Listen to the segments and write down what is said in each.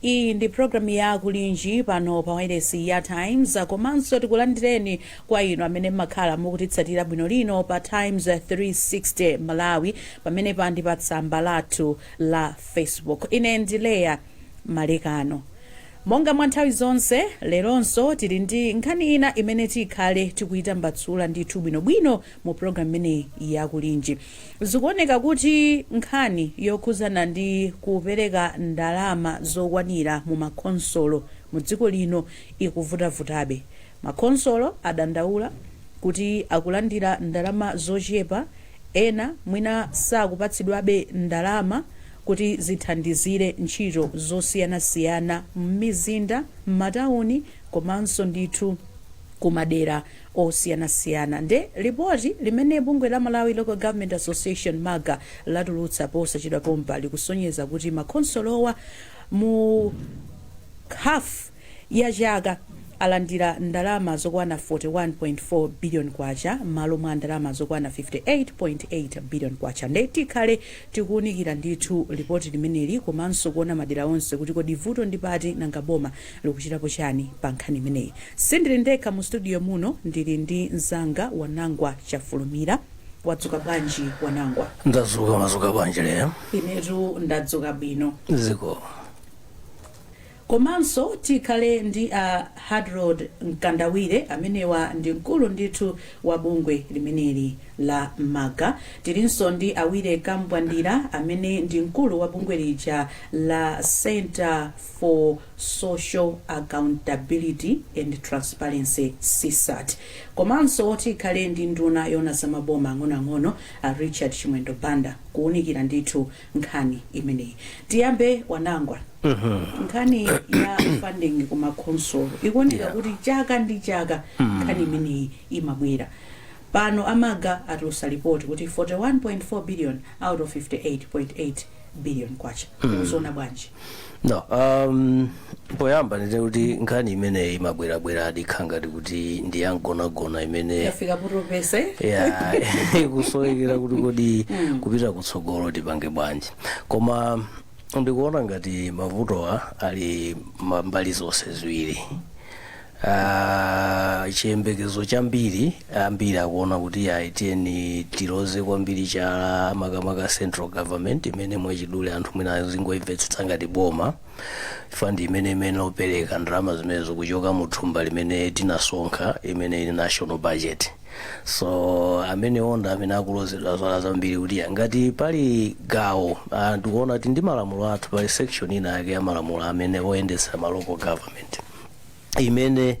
Iyi ndi program ya Kulinji pano pa wailesi ya Times komanso tikulandireni kwa inu amene mmakhala mukutitsatira bwino lino pa Times 360 Malawi pamenepa ndi pa tsamba lathu la Facebook. Ine ndi Leya Malekano. Monga mwa nthawi zonse, leronso tili ndi nkhani ina imene tikhale tikuitambasula ndithu bwinobwino mu program imeneyi ya kulinji zikuoneka kuti nkhani yokhuzana ndi kupereka ndalama zokwanira mu makhonsolo mu dziko lino ikuvutavutabe makhonsolo adandaula kuti akulandira ndalama zochepa ena mwina sakupatsidwabe ndalama kuti zithandizire ntchito zosiyanasiyana m'mizinda m'matawuni komanso ndithu kumadera osiyanasiyana nde report limene bungwe la Malawi Local Government Association, MALGA, latulutsa posachedwa pompa likusonyeza kuti ma khonsolowa mu half ya chaka alandira ndalama zokwana K41.4 billion mmalo mwa ndalama zokwana K58.8 billion nde tikhale tikuunikira ndithu report limeneli komanso kuona madera onse kuti kodi vuto ndi pati nanga boma likuchitapo chani pa nkhani imeneyi? Sindili ndekha mu studio muno, ndili ndi mzanga Wanangwa Chafulumira. Wadzuka bwanji Wanangwa? Ndadzuka, mwadzuka bwanji Leya? Inetu ndadzuka bwino. Zikomo. Komanso tikhale ndi a Hadrod Mkandawire, amenewa ndi mkulu ndithu wa bungwe limeneli la MALGA. Tilinso ndi a Willy Kambwandira, amene ndi mkulu wa bungwe lija la Centre for Social Accountability and Transparency, CSAT, komanso oti tikhale ndi nduna yoona za maboma ang'onoang'ono a Richard Chimwendo Banda kuunikira ndithu nkhani imeneyi. Tiyambe Wanangwa. Nkhani ya funding ku makhonsolo ikuoneka Yeah. kuti chaka ndi chaka nkhani imeneyi imabwera. Pano a MALGA atulutsa report kuti 41.4 billion out of 58.8 billion kwacha uzona bwanji no um, poyamba ndinene kuti nkhani imeneyi imabwerabwera ndikukhala ngati kuti ndi yamgonagona imene yafika poti penapake ikusowekera kuti kodi kupita kutsogolo tipange bwanji koma ndikuona ngati mavutowa ali ma- mbali zonse ziwiri Ah, chiyembekezo chambiri ambiri akuona kuti ayi tiyeni tiloze kwambiri chala makamaka central government imene mwachidule anthu mwina azingoimvetsetsa ngati boma chifukwa ndi imene imene ikupereka ndalama zimene zikuchoka mu thumba limene tinasonkha imene ili national budget so amene onda amene akulozedwa zala zambiri kuti ya, ngati pali gawo ah, ndikuona kuti ndi malamulo athu pali section ina yake ya malamulo amene oyendetsa ma local government imene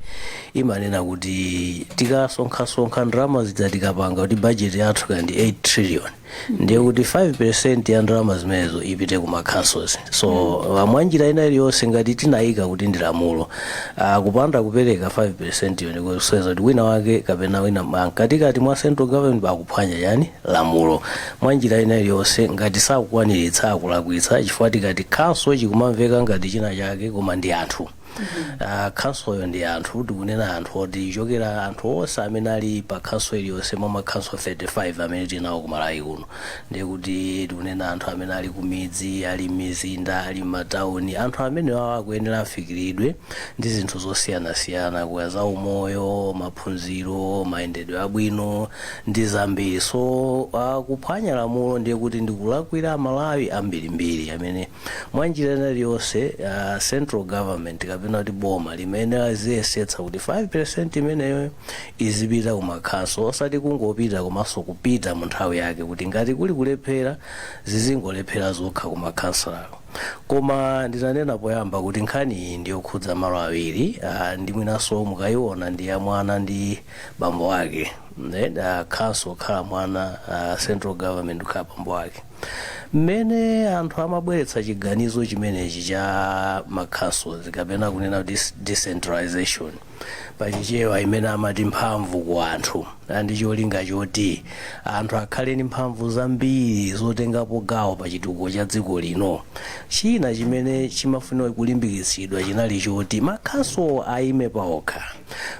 imanena kuti tikasonkhasonkha ndalama zija tikapanga kuti bajeti yathu kaya ndi 8 trillion ndiye kuti 5 percent ya ndalama zimenezo ipite ku makhanso so ah, mwa njira ina iliyonse ngati tinayika kuti ndi lamulo ah, kupanda kupereka 5 percent yonse kusonyeza kuti wina wake kapena wina ma- mkatikati mwa central government akuphwanya yani lamulo mwa njira ina iliyonse ngati sakukwaniritsa akulakwitsa chifukwa tikati khanso chikumamveka ngati china chake koma ndi anthu Ah, khansoyo ndi anthu tikunena anthu oti chokera anthu onse amene ali pa khanso iliyonse mwa makhanso 35 amene tinawo ku Malawi kuno ndiye kuti tikunena anthu amene ali kumidzi ali mmizinda ali matauni anthu amene wawo akuyenera afikiridwe ndi zinthu zosiyanasiyana kaya za umoyo maphunziro mayendedwe abwino ndi zambiri so ah, kuphwanya lamulo ndiye kuti ndikulakwira Amalawi ambirimbiri amene Mwa njira ina iliyonse, uh, central government kapena kuti boma limene aziyesetsa kuti 5% imeneyo izipita kumakhanso osati kungopita komanso kupita mu nthawi yake kuti ngati kuli kulephera zizingolephera zokha kumakhansoko koma ndinanena poyamba kuti nkhani iyi ndiyokhudza malo awiri uh, ndi mwinanso mukayiona ndi ya mwana ndi bambo wake then uh, khanso kukhala mwana uh, central government kukhala bambo wake mmene anthu amabweretsa chiganizo chimenechi cha makhansozi kapena kunena kuti s- decentralization pachichewa imene amati mphamvu ku anthu ndi cholinga choti anthu akhale ndi mphamvu zambiri zotengapo gawo pa chitukuko cha dziko lino china chimene chimafunika kulimbikitsidwa chinali choti makhanso ayime paokha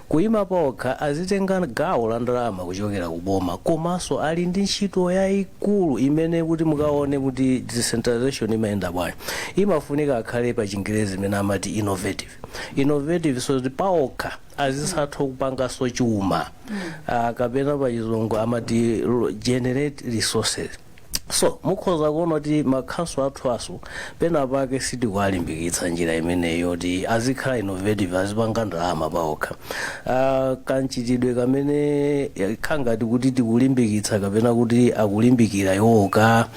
Kuima paokha azitenga gawo la ndalama kuchokera ku boma komanso ali ndi ntchito yaikulu imene kuti mukaone kuti decentralization imayenda bwanji imafunika akhale pa chingerezi imene amati innovative innovative so that paokha azizatha kupanganso chuma ah, kapena pa chizungu amati ro- generate resources. so mukhoza kuona kuti makhanso athuwanso pena pake sitikuwalimbikitsa njira imeneyi yoti azikhala innovative azipanga ndalama paokha uh, kamchitidwe kamene kakhala ngati kuti tikulimbikitsa kapena kuti akulimbikira iwo ka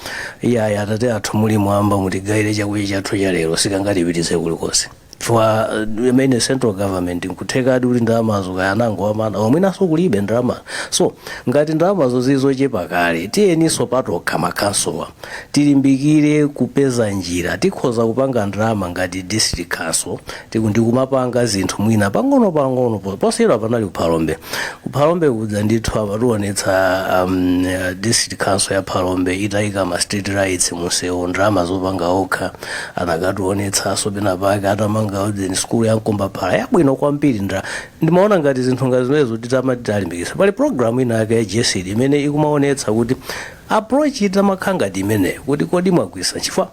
iyayi atate athu muli mmwamba mutigayire chakudya chathu cha lero sikangatipititse kulikonse chifukwa uh, imene central government nkuthekadi kuti ndalamazo kaya anangowamana mwinanso kulibe ndalama so ngati ndalamazo zili zochepa kale tiyeninso patokha makhansowa tilimbikire kupeza njira tikhoza kupanga ndalama ngati district council tiku- ndikumapanga zinthu mwina pang'ono pang'ono po- posachedwa panali kuphalombe kuphalombe kuja ndithu amatiwonetsa um, eh, district council ya phalombe itayika ma street lights munsewu ndalama zopanga okha anakationetsanso pena pake atamanga ujeni sukulu ya mkombaphala yabwino kwambiri ndra ndimaona ngati zinthu ngati zimenezo titamazilimbikitsa pali programu ina yake ya GESD imene ikumaonetsa kuti approach itamakhala ngati imeneyo kuti kodi mwagwisa chifukwa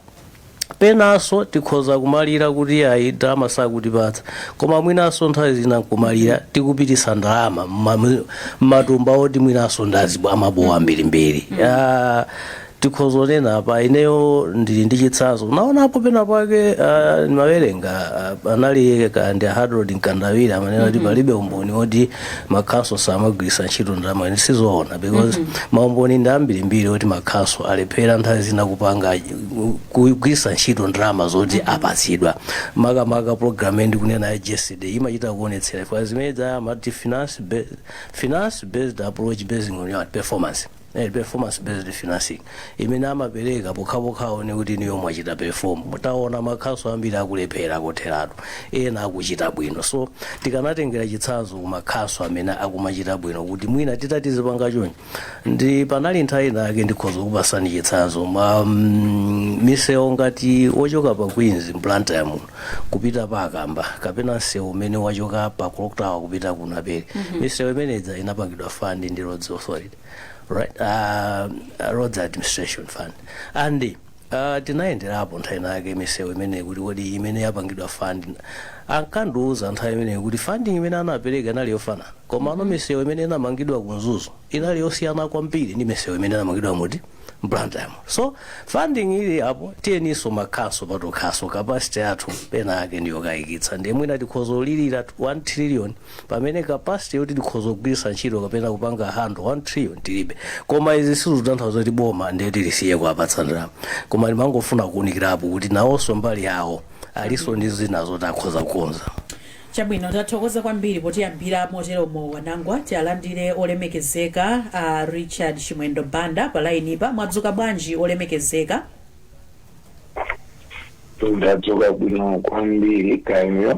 penanso tikhoza kumalira kuti ayi ndalama sakutipatsa koma mwinanso nthawi zina nkumalira tikupititsa ndalama mma- mmatumba oti mwinanso ndazibowo amabowo ambirimbiri Ah, tikhoza kunena apa ineyo ndili ndi chitsanzo ndinaonapo pena pake uh, ndimawerenga uh, anali kaya ndi a hadrod mkandawire amanena kuti palibe umboni woti makhanso samagwiritsa ntchito ndalama ndiye sizoona because maumboni ndi ambirimbiri oti makhanso alephera nthawi zina kupanga uh, kugwiritsa ntchito ndalama zoti apatsidwa makamaka program iyi ndikunena ya GESD imachita kuonetsera ifaa zimene zija amati finance based, finance based approach based on your performance Ndi performance based financing imene amapereka pokhapokha aone kuti inuyo mwachita perform. Taona makhansolo ambiri akulephera kotheratu, ena akuchita bwino. So tikanatengera chitsanzo ku makhansolo amene akumachita bwino kuti mwina titati tizipanga choncho. Ndi panali nthawi inayake ndikhoza kukupatsani chitsanzo ma mm, misewu ngati wochoka pa Queens Blantyre muno kupita pa Kamba kapena msewu umene wachoka pa Clock Tower kupita ku Naperi. Misewu imene ija inapangidwa fund ndi Roads Authority. right uh, uh, roads administration fund and uh, tinayenderapo nthawi inayake misewu imeneyi kuti kodi imene yapangidwa fund ankandiuza nthawi imeneyi kuti funding imene anapereka inali yofanana koma ano misewu imene inamangidwa ku mzuzu inali yosiyana kwambiri ndi misewu imene inamangidwa muti Blantyre so funding ili apo tiyeniso makhanso patokhaso capacity yathu penapake ndiyokayikitsa ndiye mwina tikhoza kulilira 1 trillion pamene capacity yoti tikhoza kugwiritsa ntchito kapena kupanga handle 1 trillion tilibe koma izi sizikutanthauza kuti boma ndiye kuti lisiye kuwapatsa ndalama koma ndimangofuna kuunikirapo kuti nawonso mbali yawo alinso ndi zina zoti akhoza kukonza chabwino tathokoza kwambiri potiyambira moteromo wanangwa tialandire olemekezeka a richard chimwendo banda pa lainipa mwadzuka bwanji olemekezeka ndadzuka bwino kwambiri kaya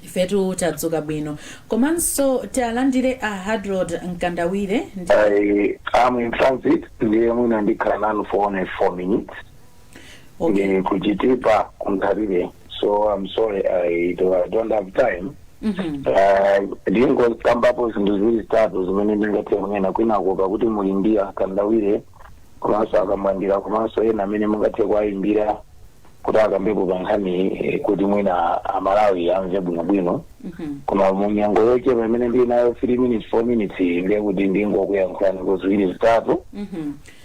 Ifetu tadzuka bwino. Komanso tialandire a Harold Mkandawire ndi. I am in transit ndiye mwina ndikhala nanu for only 4 minutes Okay. ndili ku Chitipa ku Nthalire so I'm sorry I do- I don't have time Mhm. Eh, ndingokambapo zinthu ziwiri zitatu zimene ndingathe kunena kwinako pakuti muli ndi a Mkandawire komanso a Kamwandira komanso ena amene mungathe kuwayimbira kuti akambepo pa nkhaniyi eh, kuti mwina a Malawi amve bwinobwino koma mu nyengo yochepa imene ndili nayo 3 minutes 4 minutes iyi ndiye kuti ndingokuyankhulani ku ziwiri zitatu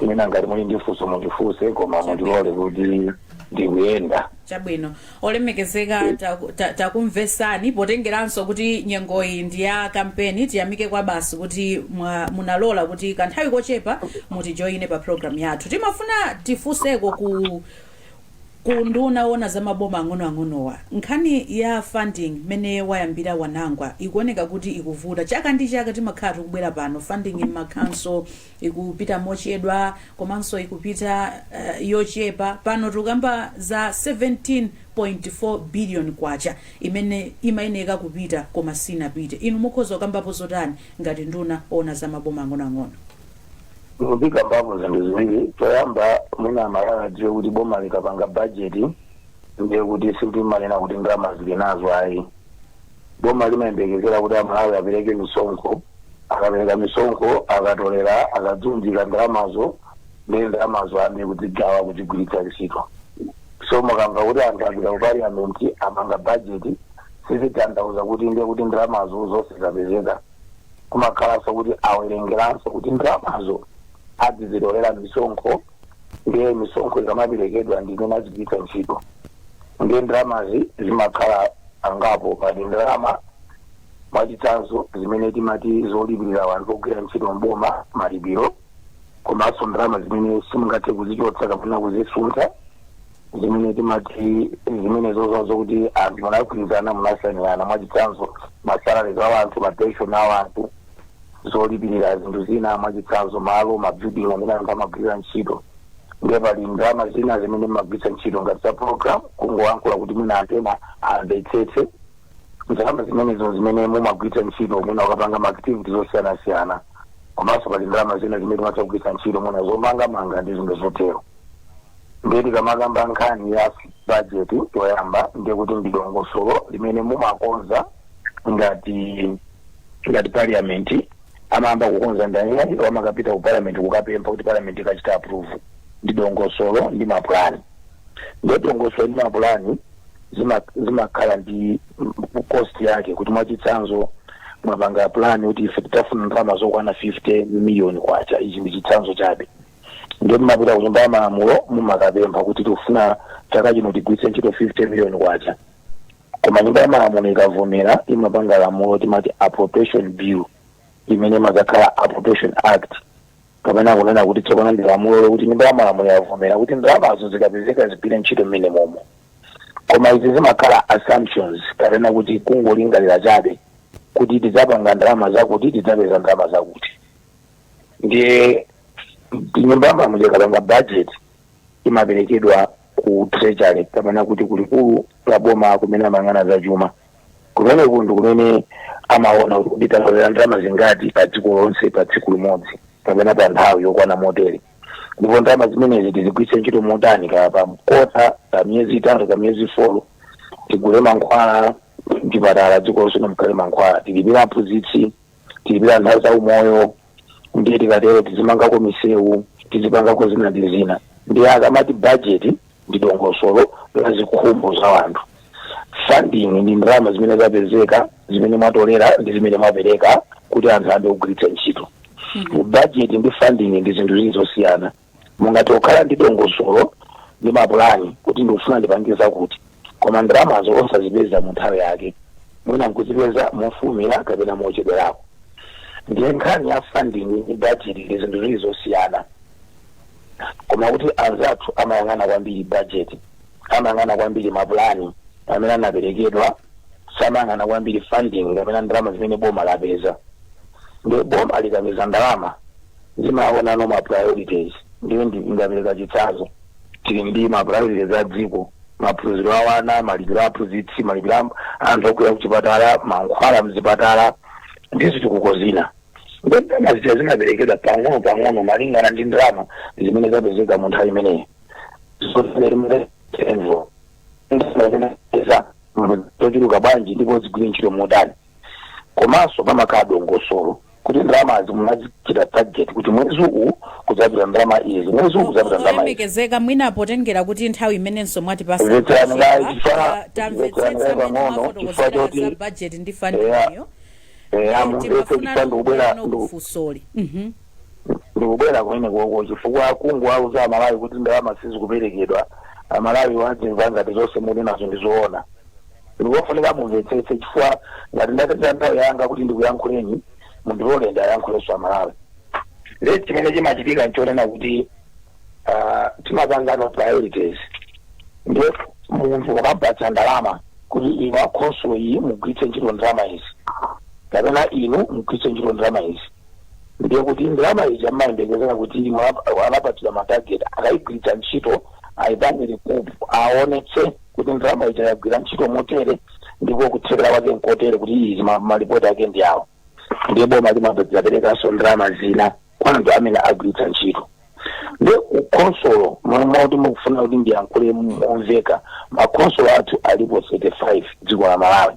mwina ngati muli ndi funso mundifunse koma mundilole kuti ndikuyenda chabwino olemekezeka taku- ta- takumvesani potengeranso kuti nyengoyi ndi ya kampeni tiyamike kwabasi kuti mwa- munalola kuti kanthawi kochepa mutijoyine pa programu yathu timafuna tifunseko ku ku nduna owona za maboma ang'onoang'onowa, nkhani ya funding mmene wayambira Wanangwa ikuoneka kuti ikuvuta. Chaka ndi chaka timakhala tikubwera pano, funding m'makhanso ikupita mochedwa komanso ikupita yochepa. Pano tikukamba za K17.4 billion imene imayeneka kupita koma sinapite. Inu mukhoza kukambapo zotani ngati nduna owona za maboma ang'onoang'ono? ndikambapo zinthu ziwiri choyamba mwina amalawi adziwe kuti boma likapanga bajeti ndiye kuti silimanena kuti ndalama zili nazo ayi boma limayembekezera kuti amalawi apereke misonkho akapereka misonkho akatolera akaziunjika ndalamazo ndi ndalamazo amayamba kuzigawa kuzigwiritsa ntchito so mukamva kuti anthu apita ku parliament amanga bajeti sizitanthauza kuti ndiye kuti ndalamazo zonse zapezeka kumakhalanso kuti awerengeranso kuti ndalamazo azizitolera misonkho ndiye misonkho ikamaperekedwa ndi imene azigwiritsa ntchito ndiye ndalamazi zimakhala zingapo pali ndalama mwachitsanzo zimene timati zolipirira wanthu ogwira ntchito mboma malipiro komanso ndalama zimene simungathe kuzichotsa kapena kuzisuntha zimene timati zimenezo zokuti anthu munagwirizana munasainirana mwachitsanzo masalaries a wanthu mapension a wanthu zolipirira zinthu zina mwachitsanzo malo mabuilding amene anthu amagwirira ntchito ndiye pali ndalama zina zimene mumagwiritsa ntchito ngati za program kungoyankhula kuti mwina anthu ena amvetsetse ndalama zimenezo zimene mumagwiritsa ntchito mwina kukapanga maactivity zosiyanasiyana komanso pali ndalama zina zimene timatha kugwiritsa ntchito mwina zomangamanga ndi zinthu zotero ndiye tikamakamba nkhani ya bajeti choyamba ndiye kuti ndi dongosolo limene mumakonza ngati parliament amayamba kukonza ndani iwo amakapita ku parliament kukapempha kuti parliament ikachita approve ndi dongosolo ndi mapulani ndiye dongosolo ndi mapulani zima- zimakhala ndi mm, cost yake kuti mwachitsanzo mwapanga pulani kuti ife titafuna ndalama zokwana 50 million kwacha ichi ndi chitsanzo chabe ndiye mumapita ku nyumba ya malamulo mumakapempha kuti tikufuna chaka chino tigwiritse ntchito 50 million kwacha koma nyumba ya malamulo ikavomera imapanga lamulo timati appropriation bill imene imadzakhala appropriation act kapena kunena kuti tsopano ndi lamulo lokuti nyumba ya malamulo yavomera kuti ndalamazo zikapezeka zigwire ntchito mmene momo koma izi zimakhala assumptions kapena kuti kungolingalira chabe kuti tidzapanga ndalama zakuti tidzapeza ndalama zakuti ndiye nyumba ya malamulo ikapanga budget imaperekedwa ku treasury kapena kuti kulikulu la boma kumene amayang'ana za chuma kumene kundu kumene amaona kuti kodi tatolera ndalama zingati pa dziko lonse pa tsiku limodzi kapena pa nthawi yokwana motere ndipo ndalama zimenezi tizigwiritse ntchito motani kapena kota pa miyezi itatu pa miyezi folo tigule mankhwala mzipatala dziko lonse mukhale mankhwala tilipira aphunzitsi tilipira anthu a za umoyo ndiye tikatero tizimangako misewu tizipangako zina ndi zina ndiye akamati bajeti ndi dongosolo la zikhumbo za anthu funding ndi ndalama zimene zapezeka zimene mwatolera ndi zimene mwapereka kuti anthu ambe kugwiritsa ntchito bajeti ndi funding ndi zinthu ziwiri zosiyana mungathe kukhala ndi dongosolo ndi mapulani kuti ndikufuna ndipange zakuti koma ndalamazo osazipeza mu nthawi yake mwina nkuzipeza mofulumira kapena mochedwerako ndiye nkhani ya funding ndi budget ndi zinthu ziwiri zosiyana koma kuti anzathu amayang'ana kwambiri budget amayang'ana kwambiri mapulani amene anaperekedwa samayang'ana kwambiri funding kapena ndalama zimene boma lapeza ndiye boma likapeza ndalama limaonano ma priorities ndiye ndi- ndapereka chitsanzo tili ndi ma priorities a dziko maphunziro a wana malipiro a aphunzitsi malipiro a anthu ogwira kuchipatala mankhwala mzipatala ndi zitukuko zina ndiye ndalama zija zimaperekedwa pang'ono pang'ono malingana ndi ndalama zimene zapezeka mu nthawi imeneyi zochuluka bwanji ndipo zigwire ntchito motani komanso pamakhala dongosolo kuti ndalamazi munazichita target kuti mwezi uwu kudzapita ndalama izi mwezi uwu kudzapita ndalama izi olemekezeka mwina potengera kuti nthawi imenenso mwatipasa kuchepa, tamvetsetsa mmene mwafotokozera za bajeti ndi fund imeneyo timafuna tikubwera kufunsoli ndikubwera kumene koko chifukwa kungowauza amalawi kuti ndalama sizikuperekedwa amalawi azimva ngati zonse muli nazo ndizoona Ndikofunika mumvetsetse chifukwa ngati ndatenga nthawi yanga kuti ndikuyankhuleni, mundilole ndiayankhulenso a Malawi. Ndiye chimene chimachitika nchonena kuti uh, timapanganso priorities. Ndiye munthu ukampatsa ndalama kuti inu a khonsolo iyi mugwiritse ntchito ndalama izi kapena inu mugwiritse ntchito ndalama izi ndiye kuti ndalama izi amayembekezera kuti mwa- anapatsidwa matarget akayigwiritsa ntchito ayipange report aonetse kuti ndalama ija yagwira ntchito motere ndipo kuthekera kwake nkotere kuti izi ma- malipoti ake ndi awo ndiye boma limaperekanso ndalama zina kwa anthu amene agwiritsa ntchito ndi ku khonsolo momwe kuti mukufuna kuti ndiyankhule momveka makhonsolo athu alipo 35 dziko la malawi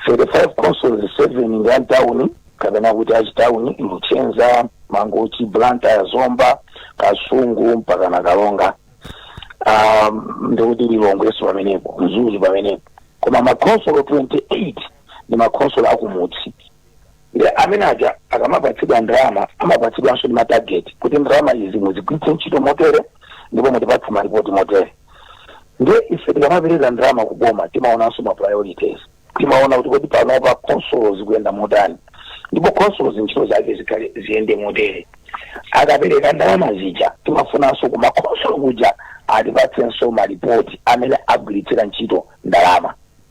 35 councils 7 ndi amtawuni kapena kuti achitawuni luchenza mangochi blantyre zomba kasungu mpakana karonga um, ndikuti lilongwenso pamenepo mzuzu pamenepo koma makhonsolo 28 ndi makhonsolo akumudzi Nde amene aja akamapatsidwa ndalama amapatsidwanso ndi matageti kuti ndalama izi muzigwiritse ntchito motere ndipo mutipatse malipoti motere. Nde ife tikamapereka ndalama ku boma timaonanso ma priorities. Timaona kuti kodi panopa khonsolo zikuyenda motani ndipo khonsolo zintchito zake zikhale ziyende motere. Akapereka ndalama zija timafunanso ku makhonsolo kuja atipatsenso malipoti amene agwiritsira ntchito ndalama.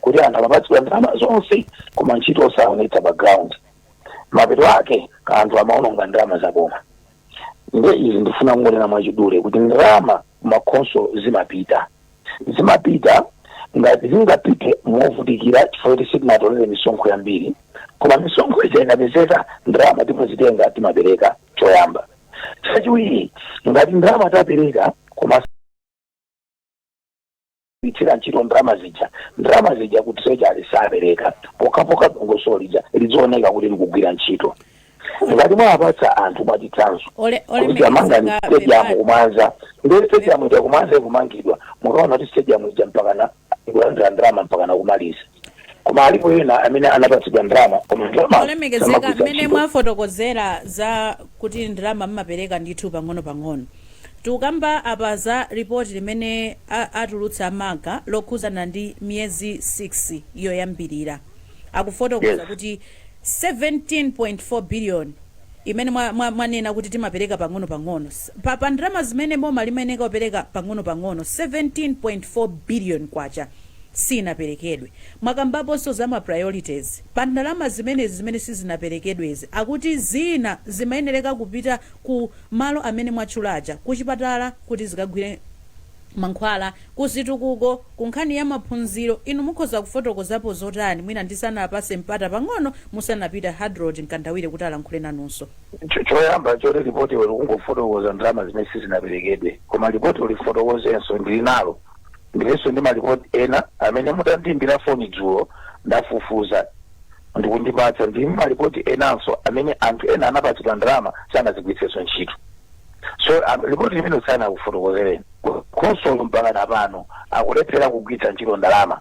kuti anthu amapatsidwa ndalama zonse koma ntchito osaonetsa pa ground mapeto ake anthu amaononga ndalama za boma nde izi ndifuna kungonena mwachidule kuti ndalama kumakhonsolo zimapita zimapita ngati zingapite movutikira chifukwa kuti sitinatolere misonkho yambiri koma misonkho ija ikapezeka ndalama timazitenga timapereka choyamba chachiwiri ngati ndalama tapereka koma gwiritsira ntchito ndalama zija, ndalama zija ku treasury sapereka pokhapokha dongosolo lija lidzioneka kuti likugwira ntchito. Ngati mwawapatsa anthu mwachitsanzo kuti amangani stadium ku Mwanza ndiye stadium ija ku Mwanza ikumangidwa mukaona kuti stadium ija mpakana ikulandira ndalama mpakana kumaliza koma alipo ena amene anapatsidwa ndalama koma ndalama olemekezeka samagwiritsa mmene ntchito. mwafotokozera za kuti ndalama mmapereka ndithu pang'ono-pang'ono tikukamba apa za ripoti limene a- atulutsa a MALGA lokhuzana ndi miyezi 6 yoyambirira akufotokoza Yes. kuti 17.4 billion imene mwa- mwa- mwanena kuti timapereka pang'ono-pang'ono S- pa, pa ndalama zimene boma limayenera kupereka pang'ono-pang'ono 17.4 billion kwacha siyinaperekedwe. Mwakambaponso za ma priorities. Pa ndalama zimenezi zimene sizinaperekedwezi akuti zina zimayenereka kupita ku malo amene mwatchula aja, ku chipatala kuti zikagulire mankhwala, ku zitukuko, ku nkhani ya maphunziro. Inu mukhoza kufotokozapo zotani mwina ndisanapatse mpata pang'ono musanapita Hadrod Mkandawire kuti alankhule nanunso. Choyamba nchoti lipotilo likungofotokoza ndalama zimene sizinaperekedwe. Koma lipotilo lifotokozenso, ndili nalo. Ndilinso ndi malipoti ena amene mutandiimbira foni dzulo ndafufuza n'kundipatsa ndi malipoti enanso amene anthu ena anapatsidwa ndalama sanazigwiritsenso ntchito so um, lipoti limene sanakufotokozereni khonsolo mpakana pano akulephera kugwiritsa ntchito ndalama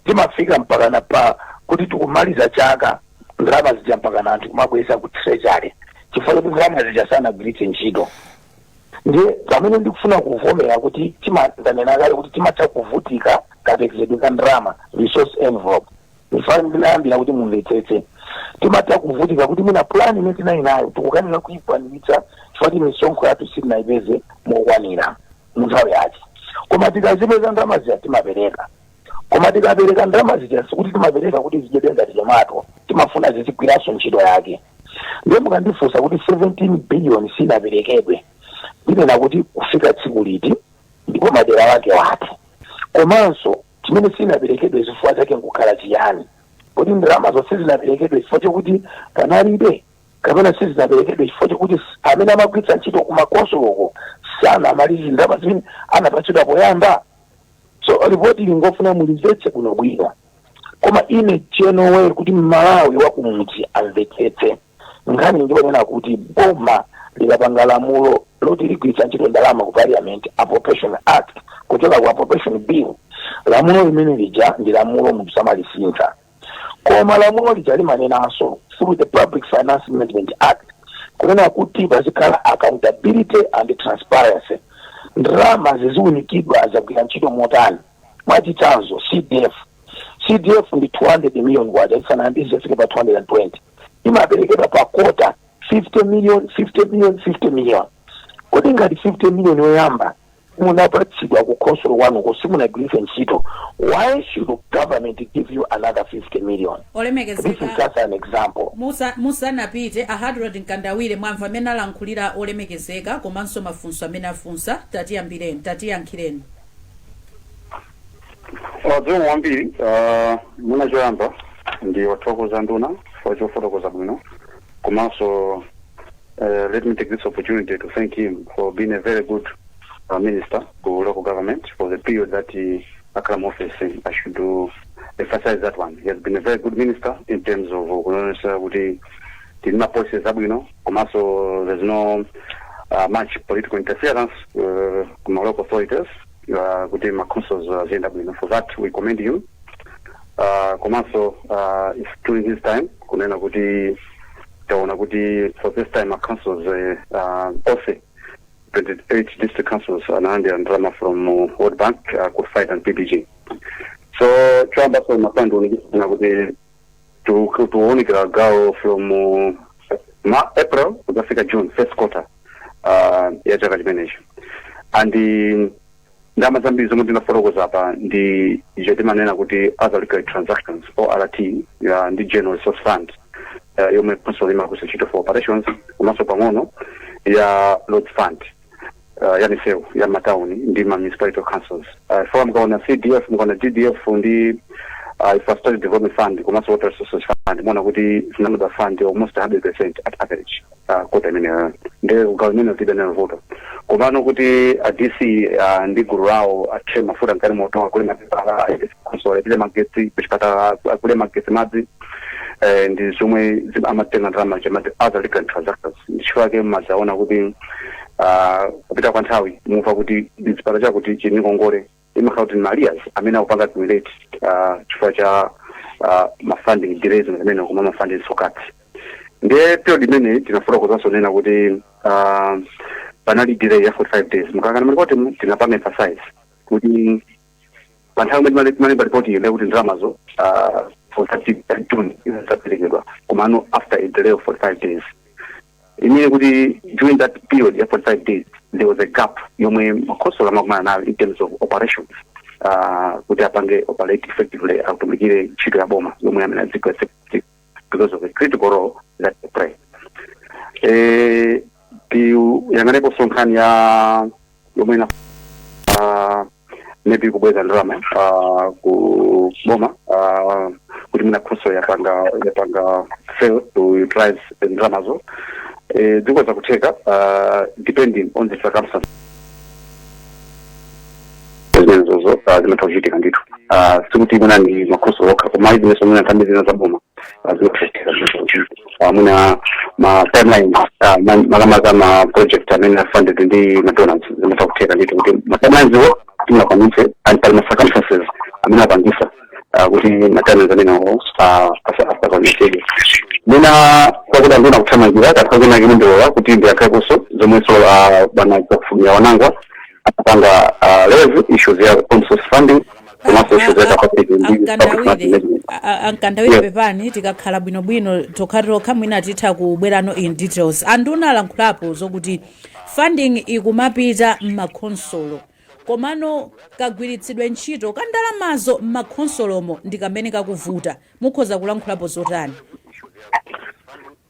timafika mpakana pa kuti tikumaliza chaka ndalama zija mpakana anthu kumabweza ku treasury chifukwa choti ndalama zija sanagwiritse ntchito ndiye pamene ndikufuna kuvomera kuti tima- ndanena kale kuti timatha kuvutika kapekezedwe ka ndalama resource envelope nchifana ndinayambira kuti mumvetsetse timatha kuvutika kuti mwina plan imene tinali nayo tikukanika kuyikwaniritsa chifukwa choti misonkho yathu sitinayipeze mokwanira mu nthawi yake koma tikazipeza ndalama zija timapereka Koma tikapereka ndalama zija sikuti timapereka kuti zidyedwe ngati tomato, timafuna zizigwiranso ntchito yake. Ndiye mukandifunsa kuti 17 biliyoni sinaperekedwe, ndinena kuti kufika tsiku liti ndipo madera ake ati, komanso chimene sinaperekedwe zifukwa zake nkukhala chiyani. Kodi ndalamazo sizinaperekedwe chifukwa chokuti panalibe kapena sizinaperekedwe chifukwa chokuti s- amene amagwiritsa ntchito kumakonsolo uko sanamalize ndalama zimene anapatsidwa poyamba? so lipoti lingofuna mulimvetse bwino bwino koma ine cholowa kuti mmalawi wakumudzi amvetsetse nkhani njonena kuti boma likapanga lamulo loti ligwiritsa ntchito ndalama ku parliament appropriation act kuchoka ku appropriation bill lamulo limene lija ndi lamulo munthu samalisintha koma lamulo lija limanenanso through the public finance management act kunena kuti pazikhala accountability and transparency ndalama ziziunikidwa zagwira ntchito motani mwachitsanzo cdf cdf ndi 200 million kwacha isanayambe kufika pa 220 imaperekedwa pa kota 50 million 50 million 50 million kodi ngati 50 million yoyamba munapatsidwa kukhosolo kwanuko simunagwiritse ntchito why should government give you another 50 million this is olemekezeka just an example musa- musanapite a hadrod mkandawire mwamva amene alankhulira olemekezeka komanso mafunso amene afunsa tatiyambireni tatiyankhireni Uh, zikomo kwambiri uh, mwina choyamba ndiwathokoze nduna chifukwa chofotokoza bwino komanso uh, let me take this opportunity to thank him for being a very good uh, minister of local government for the period that akhala mu office i should emphasize that one he has been a very good minister in terms of uh, kuonesa kuti tili ma policies abwino komanso there's no uh, much political interference uh, kuma local authorities uh, kuti ma councils uh, ziyenda bwino for that we commend him uh, komanso uh, it's during his time kunena kuti taona kuti for this time ma councils uh, uh, onse 28 district councils analandira ndalama from uh, world bank uh, qualified under pbg so choyambaso mafandiunikisana kuti to to kuunikira gawo from uh, ma april kudzafika june first quarter uh, ya chaka chimenecho and um, ndalama zambiri zomwe ndinafotokoza apa ndi icho timanena kuti other recurrent transactions ort ya ndi general resource fund uh, yomwe khonsolo imagwiritsa ntchito for operations komanso pang'ono ya road fund uh, ya misewu ya matauni ndi ma municipality councils uh, chifukwa mukaona cdf mukaona ddf ndi uh, infrastructure development fund komanso water resources fund muona kuti zinapangidwa fund almost 100 percent at average uh, kota imeneyo nde kugawo imeneyo tilibe nayo vuto komano kuti a dc uh, ndi gulu lawo athire mafuta mu galimoto agule mapepala khonsolo alipire magetsi kuchipatala agule magetsi madzi eh, ndi zomwe zim- amatenga ndalama ija amati other recurrent transactions ndichifukwa chake mumazaona kuti ah, kupita kwa nthawi mumva kuti chipatala chakuti chili ndi ngongole imakhala kuti ma arrears amene akupanga accumulate ah, chifukwa cha ah, mafunding delays amene koma mafunding sokati ndiye period imene tinafotokozanso kunena kuti ah, panali delay ya 45 days mukayang'ana malipotimu, tinapanga emphasize kuti pa nthawi imene timalemba lipotiyo ndekuti ndalamazo ah, for 30 june izaperekedwa komano after a delay of 45 days it means kuti during that period ya 45 days there was a gap yomwe makhosolo amakumana nayo in terms of operations uh, kuti apange operate effectively atumikire ntchito ya boma yomwe amayenera adzigwira because of the critical role that they play eh, tiyang'aneponso nkhani ya yomwe ina uh, maybe kubweza ndalama uh, ku boma uh, kuti mwina khonsolo yapanga yapanga fail to utilize ndalamazo eh, ndi zoti ndi zakutheka uh, depending on the circumstance zimenezozo uh, zimatha kuchitika ndithu uh, sikuti mwina ndi makhonsolo okha koma zinanso mwina nthambi zina za boma uh, zimatha kuchitika zimenezo mwina ma timeline ah, ma- makamaka ma project amene are funded ndi madonors zimatha kutheka ndithu kuti ma timelines wo tisakwanitse and pali ma circumstances amene apangisa ah, kuti ma timelines amenewo asakwanitsedwe mwina kwakuti andina kuthamangira kakhazina kimundiwola kuti ndi ya khonsolo zomwenso ah, bwana zakufumira wanangwa akupanga ah, raise issues ya own source funding komanso issues ya capacity building, public market ankandawire management a- a- a Mkandawire Yes. pepani tikakhala bwinobwino tokha tokha mwina titha kuuzana in details anduna alankhulapo zokuti funding ikumapita m'makhonsolo komano kagwiritsidwe ntchito ka ndalamazo m'makhonsolomo ndi kamene kakuvuta mukhoza kulankhulapo zotani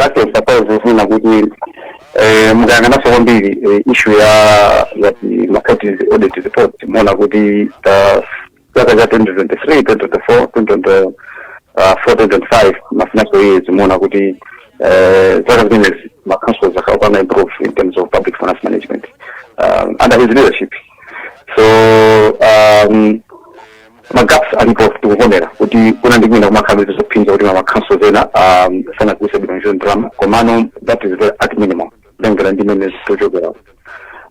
Lakini suppose zina kuti eh, mukayang'ananso kwambiri eh, issue ya ya ma audit report muona kuti zaka za 2023 2024 2024 2025 ma financial years muona kuti eh, zaka zimenezi ma councils akupanga improve in terms of public finance management um, under his leadership so um, magaps alipo tikuvomera kuti kuna ndi kuina kumakhala ndi zophinja kuti ma councils ena um, sanagwiritse bwino ntchito ndalama komano that is very at minimum kutengera ndi mene tikuchokera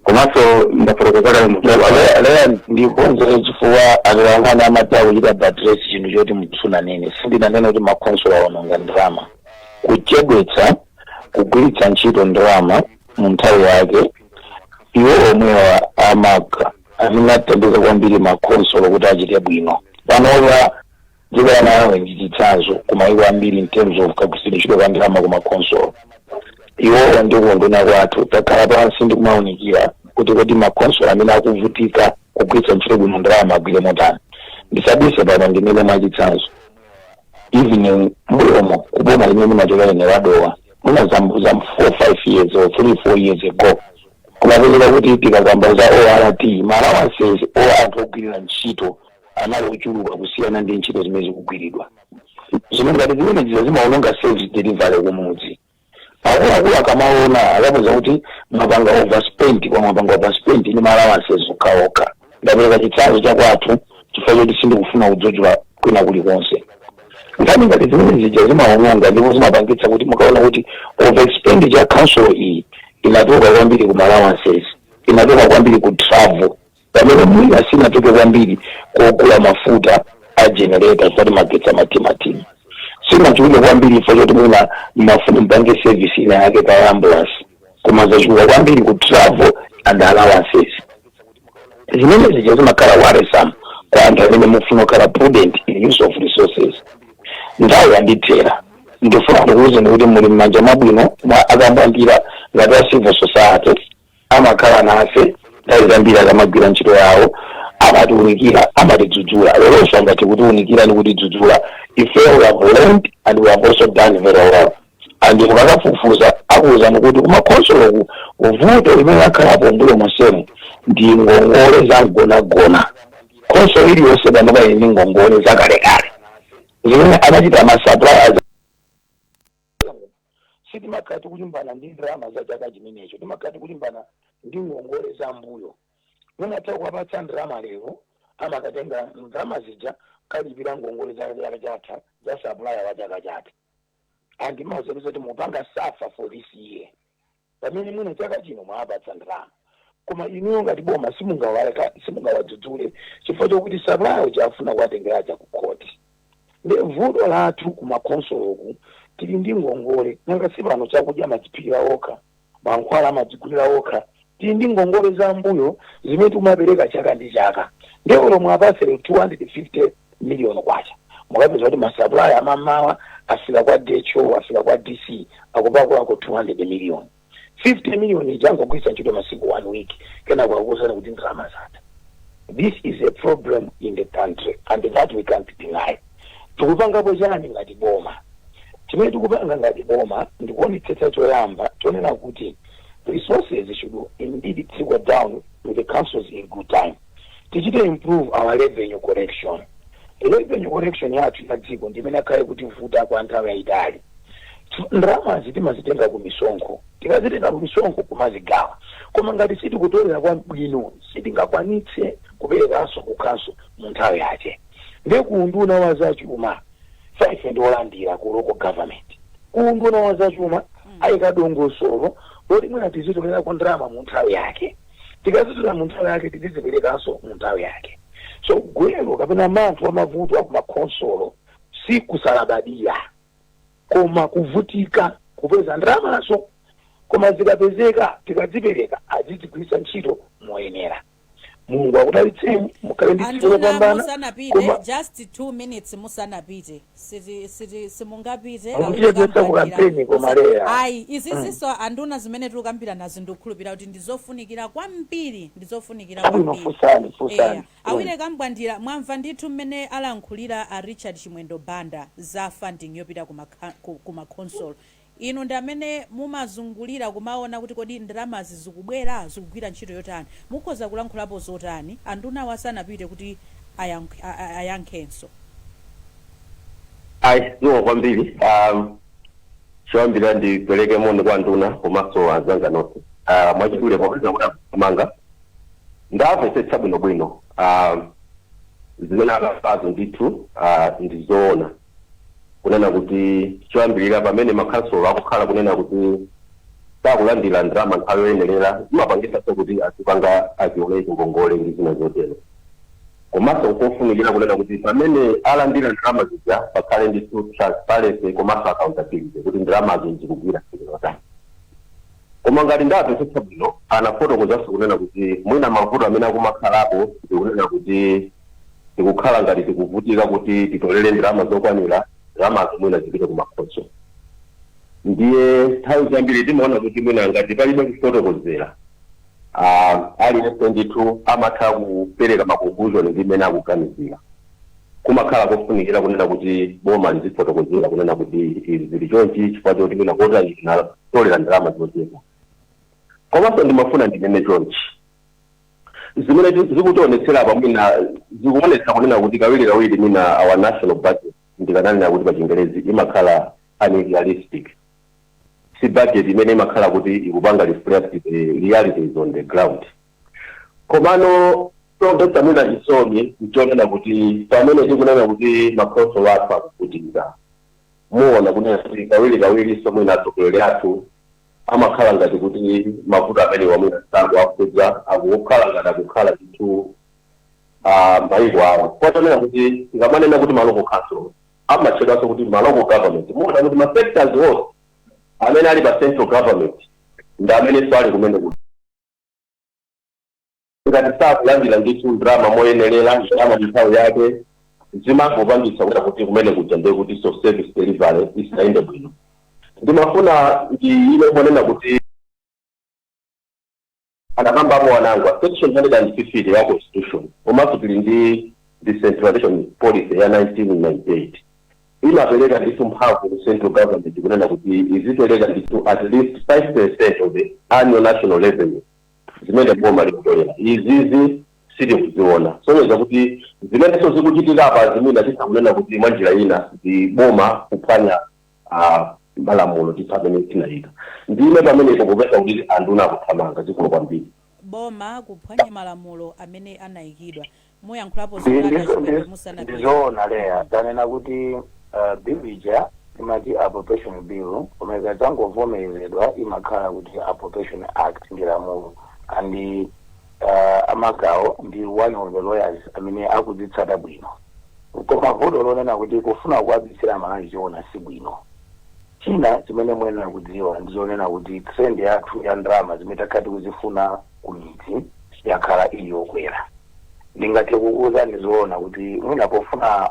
komanso ndafotokoza kale mu- leya ndikonzere chifukwa atolankhani amati akuchita buttress chinthu choti simunanene sindinanene kuti makhonsolo awononga ndalama kuchedwetsa kugwiritsa ntchito ndalama mu nthawi yake iwo omwewa amaka amene athandiza kwambiri makhonsolo kuti achite bwino panopa dziko la malawi ndi chitsanzo ku mayiko ambiri in terms of kagwiritsidwe ntchito ka ndalama ku makhonsolo iwowa ndi ku unduna kwathu takhala pansi ndi kumaunikira kuti kodi makhonsolo amene akuvutika kugwiritsa ntchito bwino ndalama agwire motani ndisabise pano ndimene mwachitsanzo even mbuyomo kuboma limene ndimachokera ine la Dowa mwina zaka four five years or three four years ago Kumapezeka kuti tikakamba za ORT, ma allowances a anthu ogwirira ntchito anali ochuluka kusiyana ndi ntchito zimene zikugwiridwa. Zinthu ngati zimenezi zimaononga service delivery kumudzi. Akuluakulu akamaona akapeza kuti mwapanga overspent kwa mwapanga overspent ndi ma allowances okhaokha. Ndapereka chitsanzo cha kwathu chifukwa choti sindikufuna kudzudzula kwina kulikonse. Nkhani ngati zimene zija zimaononga ndipo zimapangitsa kuti mukaona kuti overspend ya council iyi inatoka kwambiri ku allowances, inatoka kwambiri ku travel pamene mwina sinatoka kwambiri kogula mafuta a generator kuti magetsi amathimathima sinachuluke kwambiri if choti mwina mmafuna mpange service ina yake kaya ambulance koma zachuluka kwambiri ku travel and allowances zimenezi zimakhala worrisome kwa anthu amene mukufuna kukhala prudent in use of resources nthawi yandithera ndifuna ndikuwuzeni kuti muli m'manja mwabwino mwa akabandira ngati a civil society amakhala nafe nthawi zambiri akamagwira ntchito yawo amatiunikira amatidzudzula leronso angathe kutiunikira ndi kutidzudzula ife we have learned and we have also done very well and mukakafufuza akuwuzani kuti kumakhonsoloku vuto limene lakhalapo mbuyo monsemu ndi ngongole za mgonagona khonsolo iliyonse panopa ili ndi ngongole zakalekale zimene anachita ndi masuppliers sitimakhala tikulimbana ndi ndalama za chaka chimenecho timakhala tikulimbana ndi ngongole za mbuyo mutha kuwapatsa ndalama lero amakatenga ndalama zija kukalipira ngongole za chaka chatha za supplier wa chaka chatha and muwauze kuti mupanga safa for this year pamene mwina chaka chino mwawapatsa ndalama koma inuyo ngati boma simungawaleka- simungawadzudzule chifukwa chokuti sapulaya uja afuna kuwatengera aja ku khoti nde vuto lathu kumakhonsoloku tili ndi ngongole nanga si pano chakudya machiphikira okha Mankhwala amadzigulira okha. Tili ndi ngongole za mmbuyo zimene tikumapereka chaka ndi chaka ndiye olo muwapatse K250 miliyoni mukapeza kuti masapulaya mmamawa afika kwa DHO, afika kwa DC akupakulako K200 miliyoni. K50 miliyoni ija angogwiritsa ntchito masiku 1 week kenako akukuuzani kuti ndalama zatha. This is a problem in the country and that we can't deny. Tikupangapo chani ngati boma? Chimene tikupanga ngati boma ndikuonetsetsa choyamba chonena kuti resources should indeed trickle down to the councils in good time. Tichite improve our revenue collection. Revenue collection yathu ya dziko ndi imene yakhala ikutivuta kwa nthawi yayitali. Ndalamazi timazitenga ku misonkho. Tikazitenga ku misonkho kumazigawa. Koma ngati sitikutolera kwabwino sitingakwanitse kuperekanso ku council mu nthawi yache. ndiye ku unduna wa zachuma si ife ndi olandira ku local government ku unduna wa zachuma ayika dongosolo loti mwina tizitolerako ndalama mu nthawi yake tikazitolera mu nthawi yake tiziziperekanso mu nthawi yake so gwero kapena manthu wa mavuto a kumakhonsolo si kusalabadira koma kuvutika kupeza ndalamazo koma zikapezeka tikazipereka azizigwiritsa ntchito moyenera mulungu akudalitseni mukhale ndi tsiku anduna lopambana musanapite koma just 2 minutes musanapite siti siti simungapite Mukutijedzetsa ku campaign koma leya. ayi izizinso anduna zimene tikukambirana ndikukhulupirira kuti ndizofunikira kwambiri ndizofunikira Chabwino, kwambiri funsani, funsani. Eya. awire kambwandira mwamva ndithu mmene alankhulira a richard chimwendo banda za funding yopita ku makha- ku- ku makhonsolo Inu ndi amene mumazungulira kumaona kuti kodi ndalamazi zikubwera? Zikugwira ntchito yotani? Mukhoza kulankhulapo zotani? Andunawa asanapite kuti ayankhenso. Ayi zikomo kwambiri a choyambirira ndipereke moni kwa anduna komanso anzanga nonse a mwachidule popeza kuti akuthamanga ndamvetsetsa bwinobwino a zimene akambazo ndithu a ndi zoona. kunena kuti choyambirira pamene makhansolo akukhala kunena kuti sakulandira ndalama nthawi yoyenerera zimapangisanso kuti azipanga aziolekingi ngongole ndi zina zotero komanso nkofunikira kunena kuti pamene alandira ndalama zija pakhale ndithu transparency komanso accountability kuti ndalamazo zikugwira ntchito yotani Koma ngati ndamvetsetsa bwino anafotokozanso kunena kuti mwina mavuto amene akumakhalapo ndikunena kuti tikukhala ngati tikuvutika kuti titolele ndalama zokwanila ndalamazo mwina zipite ku makhonsolo ndiye nthawi zambiri timaona kuti mwina ngati palibe kufotokozela uh, aliyense ndithu amatha kupereka ma conclusion ndi mmene akuganizira kumakhala kofunikira kunena kuti boma lizifotokozera kunena kuti izi zili chonchi chifukwa choti mwina kotani tinatolera ndalama zochepa. Komanso ndimafuna ndinene chonchi, zimene ti- zikutionetsera apa mwina zikuonetsa kunena kuti kawirikawiri mwina our national budget ndikananena kuti pa chingerezi imakhala unrealistic si budget imene imakhala kuti ikupanga reflect the realities on the ground komano chomvetsa mwina chisoni nchonena kuti pamene tikunena kuti makhonsolo athu akuvutika Muona kunena kuti kawirikawirinso mwina atsogoleri athu amakhala ngati kuti mavuto amenewa mwina sakuwakhudza, akukhala ngati akukhala ndithu a mayiko awo. Chifukwa chonena kuti tikamanena kuti ma local councils, amatchedwanso kuti ma local government. Muona kuti ma sectors onse amene ali pa central government ndi amenenso ali kumene kuja. ngati sakulandira ndithu ndalama moyenerera ndalama nthawi yake zimangopangitsa kunena kuti kumene kuja ndiye kuti so service delivery isayende bwino ndimafuna ndinene monena kuti anakambapo wanangwa section 150 ya constitution komanso tili ndi decentralization policy ya 1998 imapereka ndithu mphamvu ku central government kunena kuti izipereka ndithu at least 5 percent of the annual national revenue zimene boma likutolera izizi sitikuziona kusonyeza kuti zimenenso zikuchitika apa zimene titha kunena kuti mwa njira ina ndi boma kuphwanya ah, malamulo athu amene tinayika ndime pamenepo popeza kuti anduna akuthamanga zikulu kwambiri boma kuphwanya malamulo amene anayikidwa muyankhulapo ndizoona loya wanena kuti uh, bill ija imati appropriation bill koma ikadzangovomerezedwa imakhala kuti appropriation act ndi lamulo and uh, a Magawo ndi one of the lawyers amene akuzitsata bwino koma vuto lonena kuti kufuna kuwabisira Amalawi choona si bwino china chimene muyenera kudziwa ndizonena kuti trend yathu ya ndalama zimene takhala tikuzifuna ku midzi yakhala ili yokwera. Ndingathe kukuuzani zoona kuti mwina pofuna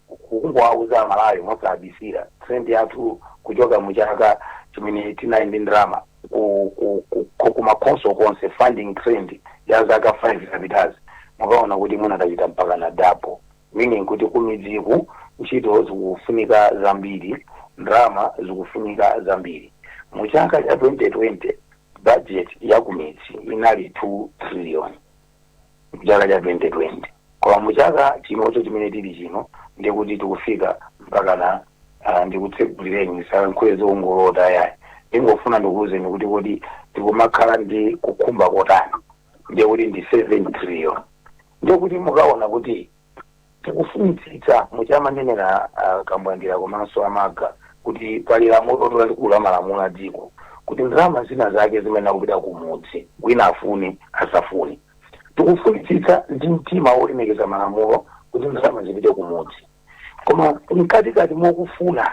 kungowauza Amalawi mosabisira trend yathu kuchoka mu chaka chimene tinali ndi ndalama ku- ku- ku- ku- kumakhonso konse funding trend ya zaka 5 zapitazi mukaona kuti mwina tachita mpakana double Meaning, Kuti kumidziku ntchito zikufunika zambiri, ndalama zikufunika zambiri. Mu chaka cha 2020, budget ya kumidzi inali 2 trillion, mu chaka cha 2020. Koma mu chaka chinocho chimene tili chino, ndiye kuti tikufika mpakana ah, ndikutsegulireni ndisalankhule zongolota yayi. Ndingofuna ndikuuzeni kuti kodi tikumakhala ndi kukhumba kotani. ndiye kuti ndi 7 trillion ndiye kuti mukaona kuti tikufunitsitsa muja amanenera a Kambwandira komanso a Magawo kuti pali lamulo lalikulu la malamulo a dziko kuti ndalama zina zake zimene zikupita kumudzi wina afune asafune tikufunitsitsa ndi mtima wolemekeza malamulo kuti ndalama zipite kumudzi koma mkatikati mokufuna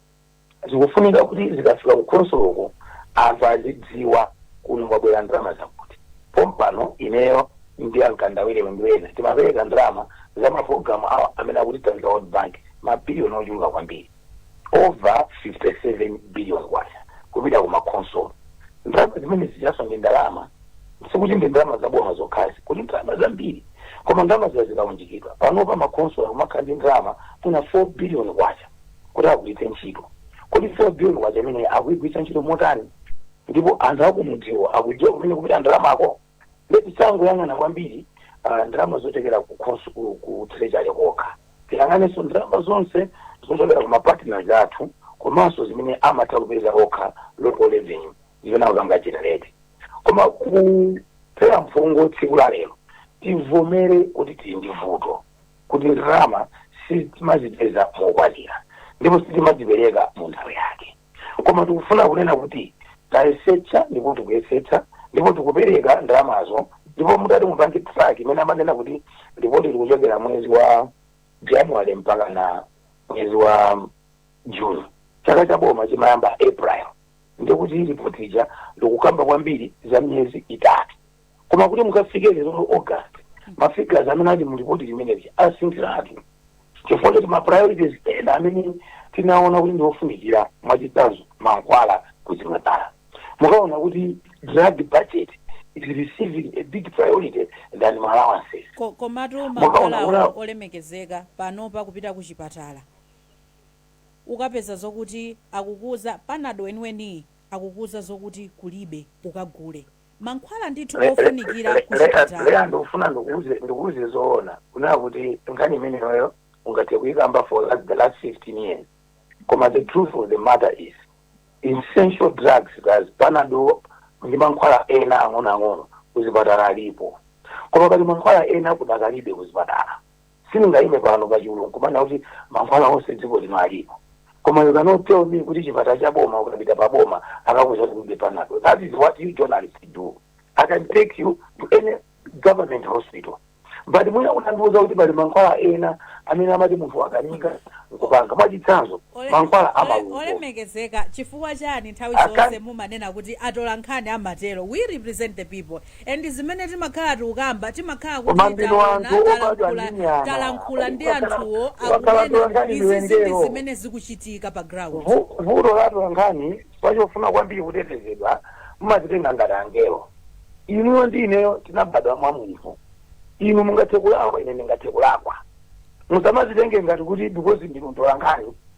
zikufunika kuti zikafika ku khonsoloko anthu azidziwa kuno kwabwera ndalama zakuti pompano ineyo ndi a Mkandawire ndi ena timapereka ndalama za mapulogalamu awa amene akutithandiza world bank mabiliyoni ochuluka kwambiri over 57 billion kwacha kupita ku makhonsolo ndalama zimene zijaso ndi ndalama sikuti ndi ndalama zaboma zokha zikuti ndalama zambiri koma ndalama zija zikaunjikidwa panopa makhonsolo kumakhala ndi ndalama mwina 4 billion kwacha kuti agwiritse ntchito. Kodi 4 billion kwacha imeneyi akuigwiritsa ntchito motani? Ndipo anthu akumudziwo akudziwa kumene kupita ndalamako? Ndiye tisangoyang'ana kwambiri ah, ndalama zochokera ku khonsu ku, ku treasury kokha. Tiyang'anenso ndalama zonse zochokera ku mapartners athu komanso zimene amatha kupeza okha local revenue zimene akupanga generate. Koma kuphera mphongo tsiku la lero tivomere kuti tili ndi vuto. kuti ndalama sitimazipeza mokwanira ndipo sitimazipereka mu nthawi yake koma tikufuna kunena kuti tayesetsa ndipo tikuyesetsa ndipo tikupereka ndalamazo ndipo mutati mupange track mmene amanena kuti lipoti likuchokera mwezi wa january mpaka na mwezi wa june chaka cha boma chimayamba april ndikuti lipoti ija likukamba kwambiri za miyezi itatu koma kuti mukafike lero august mafigures amene ali mu lipoti limeneli asinthiratu chifukwa choti ma priorities ena amene tinaona kuti ndiofunikira mwachitsanzo mankhwala kuchipatala mukaona kuti drug budget is receiving a big priority than ma allowances Ko- komatu mankhwalawo olemekezeka panopa kupita ku chipatala ukapeza zokuti akukuuza panado weniweniyi akukuuza zokuti kulibe ukagule mankhwala ndithu ofunikira kuchipatala Le- le- le- le- Leya ndikufuna ndikuuze zoona kunena kuti nkhani imeneyoyo ungathe kuyikamba for la- the last 15 years koma the truth of the matter is essential drugs as panado ndi mankhwala ena ang'onoang'ono kuzipatala alipo koma pali mankhwala ena kudakalibe kuzipatala Sindingaime pano pa chulu nkumanena kuti mankhwala onse dziko lino alipo koma you cannot tell me kuti chipatala cha boma ukapita pa boma akakuuza kuti kulibe panadol that is what you journalists do i can take you to any government hospital but mwina unandiuza kuti pali mankhwala ena amene amati munthu wakanika nkupanga mwachitsanzo mankhwala amalungo Ole- ole- olemekezeka chifukwa chani nthawi zonse mumanena kuti atola nkhani amatero we represent the people and zimene timakhala tikukamba timakhala kuti taona anthu talankhula talankhula ndi anthuwo akunena izizi ndi zimene zikuchitika pa ground Vu- vuto la atolankhani pachofuna kwambiri kutetezedwa mumazitenga ngati angelo inuyo ndi ineyo tinabadwa mwa munthu inu mungathe kulakwa ine ndingathe kulakwa musamazitenge ngati kuti because ndinu atolankhani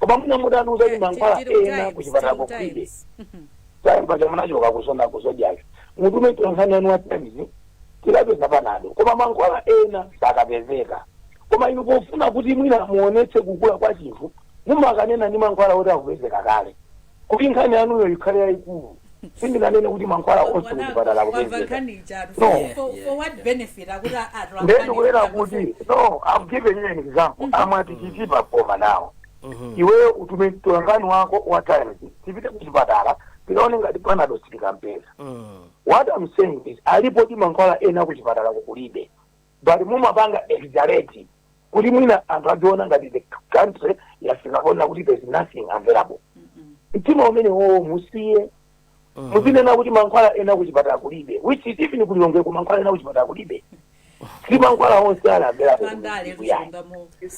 koma mwina mutatiuza kuti mankhwala ena kuchipatalako kulibe time paja munachoka kuzona kuzodyayo mutume mtolankhani wanu wa times tikapeza panado koma mankhwala ena sakapezeka koma inu pofuna kuti mwina muonetse kukula kwa chinthu mumakanena ndi mankhwala oti akupezeka kale kuti nkhani yanuyo ikhale yayikulu sindinanene kuti mankhwala onse kuchipatala akupezeka nde ndikunena kuti no i'm giving you an example amwati chitipa koma nawo iweyo utume mtolankhani wako wa times tipite kuchipatala tikaone ngati panado sitikampeza what i'm saying is alipodi mankhwala ena kuchipatalaku kulibe but mumapanga exaggerate kuti mwina anthu adziona ngati the country yafika ponena kuti there's nothing available mtima umenewowo musiye muzinena kuti mankhwala ena kuchipatala kulibe which is even ku lilongweko mankhwala ena kuchipatala kulibe si mankhwala onse ali available pandale kuno. Yeah. tizilungamo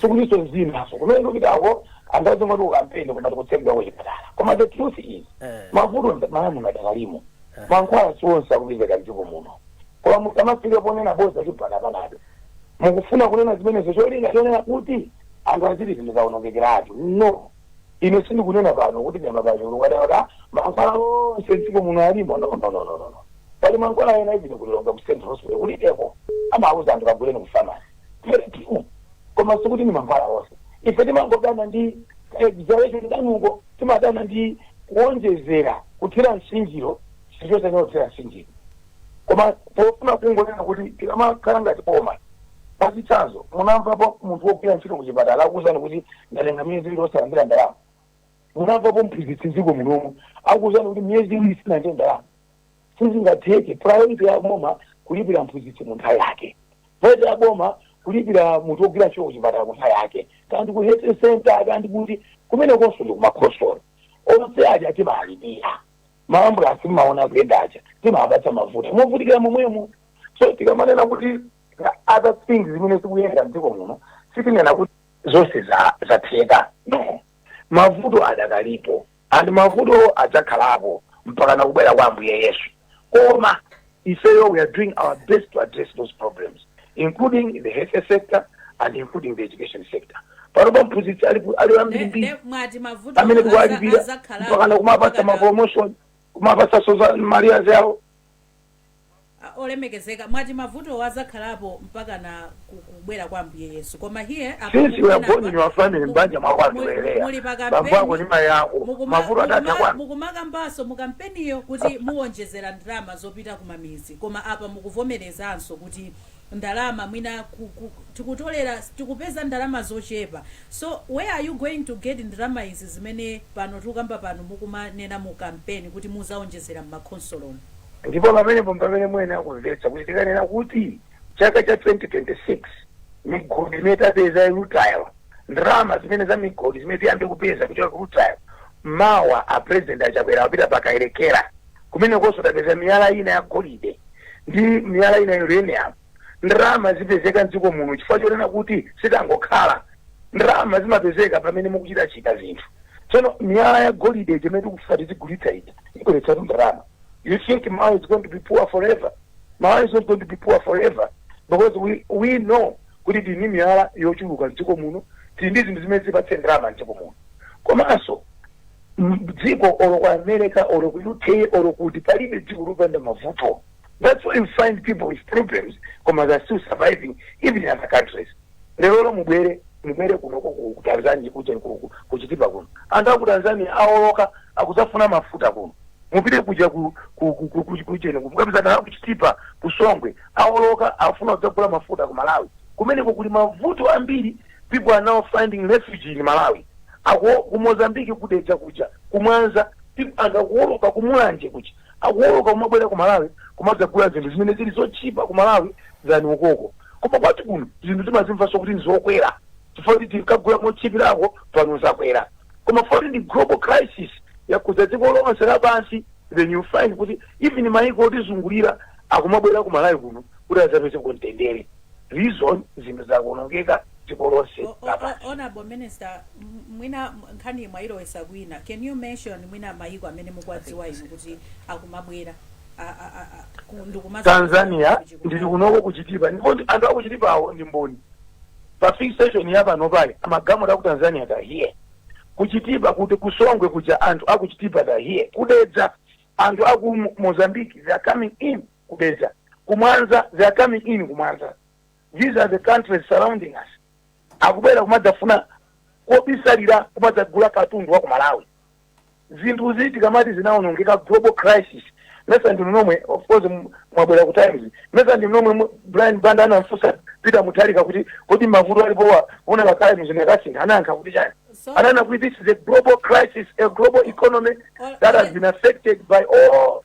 sikutinso mzinaso kumene ndikupitako anthu azingoti kukampeni koma tikutsegulako chipatala koma the truth is mavuto mmalawimu adakalimo mankhwala si onse akupezeka mdziko muno koma musamafike ponena boza chipatala panado mukufuna kunena zimenezo cholinga chonena kuti anthu aziti zinthu zaonongekeratu no ine sindikunena pano kuti ndaima pachulu kadakaka mankhwala onse mdziko muno alimo no no no no no pali mankhwala ena even ku lilongwe ku central hospital kulibeko amauza anthu kaguleni ku pharmacy pharmacy koma sikuti ndi mankhwala onse ife timangodana ndi exaggeration kwanuko timadana ndi kuonjezera kuthira nsinjiro chinthu chonse kuthira nsinjiro koma pofuna kungonena kuti tikamakhala ngati boma pachitsanzo munamvapo munthu wogwira ntchito kuchipatala akuwuzani kuti ndatenga miyezi iwiri osalandira ndalama munamvapo mphunzitsi mdziko munomu akuwuzani kuti miyezi iwiri sinalandire ndalama sizingatheke priority ya boma kulipira mphunzitsi mu nthawi yake priority ya boma kulipira munthu wogwira ntchito kuchipatala mu nthawi yake kaya ndi ku health center kaya ndi kuti kumene konso ndi kumakhonsolo onse aja timalipira maambulasi mumaona kuyenda aja timapatsa mafuta movutikira momwemo so tikamanena kuti other things zimene zikuyenda mdziko muno sitinena kuti zonse za- zatheka no mavuto adakalipo And mavuto adzakhalapo mpakana kubwera kwa Ambuye Yesu. Koma ifeyo we are doing our best to address those problems including the health sector and including the education sector. Panopa mphunzitsi ali ku- ali ambiri Nde- mbiri nde mwati mavuto amene aza- tikuwalipira azakhalapo mpakana kumapasa mpakana- mapromotion kumapasanso za ma arrears awo Ah, olemekezeka mwati mavutowo azakhalapo mpakana ku- kubwera kwa ambuye yesu koma here apa Since we are mukunena born in apa, your family, mu- mbanja mwako mu- andiwelea. muli pa Bambo kampeni, ako ni mai ako. mukuma- Mavuto atatha mukuma- kwanu. mukumakambanso mu kampeniyo kuti muwonjezera ndalama zopita kumamizi koma apa mukuvomerezanso kuti ndalama mwina ku- ku- tikutolera tikupeza ndalama zochepa so where are you going to get ndalama izi zimene pano tikukamba pano mukumanena mu kampeni kuti muzawonjezera mmakhonsolomo Ndipo pamenepo mpamene muyenera kumvetsa kuti tikanena kuti chaka cha 2026 migodi imene tapeza ya rutile ndalama zimene za migodi zimene tiyambe kupeza kuchoka ku rutile mawa a president a chakwera apita pa kayelekera kumenekonso tapeza miyala ina ya golide ndi miyala ina ya uranium ndalama zipezeka mdziko muno chifukwa chonena kuti sitangokhala ndalama zimapezeka pamene mukuchitachita zinthu tsono miyala ya golide imene tikufuna tizigulitsa ija ibweretsatu ndalama You think Malawi is going to be poor forever? Malawi is not going to be poor forever because we, we know kuti tili ndi miyala yochuluka mdziko muno tili ndi zinthu zimene zipatse ndalama mdziko muno komanso m- dziko olo ku america olo ku uk olo kuti palibe dziko lopanda mavuto that's why you find people with problems koma they're still surviving even in other countries lero lo mubwere mubwere kuno ku- ku ku tanzania kuja ku- ku- kuchitipa kuno anthu aku tanzania aoloka akuzafuna mafuta kuno mupite kuja ku- ku- ku- ku- ku- kucheni mukapezana kuchitipa kusongwe aoloka afuna kudzagula mafuta ku malawi kumeneko kuli mavuto ambiri people are now finding refuge in malawi ako ku mozambiki kudeja kuja kumwanza people angakuoloka kumulanje kuja akuwoloka kumabwera ku Malawi kumadzagula zinthu zimene zili zotchipa ku Malawi than ukoko koma kwathu kuno zinthu timazimvanso kuti ndizokwera chifukwa kuti tinkagula motchipirako pano zakwera koma foti ndi global crisis yakhudza dziko lonse lapansi then you find kuti even mayiko otizungulira akumabwera ku Malawi kuno kuti adzapeze kamtendere reason zinthu zakuonongeka dziko lonse O- o- o- lapansi honorable minister m- mwina m- nkhani mwayilowesa kwina can you mention mwina mayiko amene mukuwadziwa inu kuti akumabwera a- a- a- a- ku- ndikumaza- tanzania kuchikuta? ndili konkuno kuchitipa ndipo ndi- anthu akuchitipawo ndi mboni pa fix station ya pano pale amagalimoto aku tanzania they are here kuchitipa kuti kusongwe kuja anthu akuchitipa they are here kudedza anthu aku Mo- mozambique they are coming in ku Dedza, ku Mwanza, they are coming in ku Mwanza. These are the countries surrounding us. Akubwera kumadzafuna mobisalira kumadzagula katundu wa ku Malawi. Zinthu ziti tikamati zinaonongeka global crisis. Nanga si ndinomwe of course m- mwabwera ku Times. Nanga si ndinomwe mu- Brian Banda anamfunsa Peter Mutharika kuti kodi mavuto alipowa ona pa Times ndakasintha anayankha kuti chani. So- Ananena kuti this is a global crisis, a global economy Ol- that has ol- been affected by all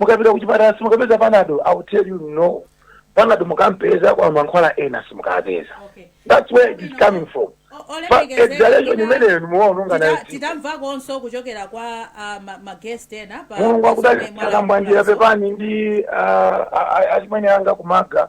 mukapita kuchipatala simukapeza panado i will tell you no panado mukampeza koma mankhwala ena simukapeza Okay. that's where it is coming from O- But olemekezeka exhalation tina- imeneyo nimuwaononga tita- nayo dziko. titamvakonso kuchokera kwa ah, ma- ma guest ena pa- mulungu pa akudalitseni zomwe mwala- a Kambwandira pepani ndi ah, ah, ah, achimwene anga kumaga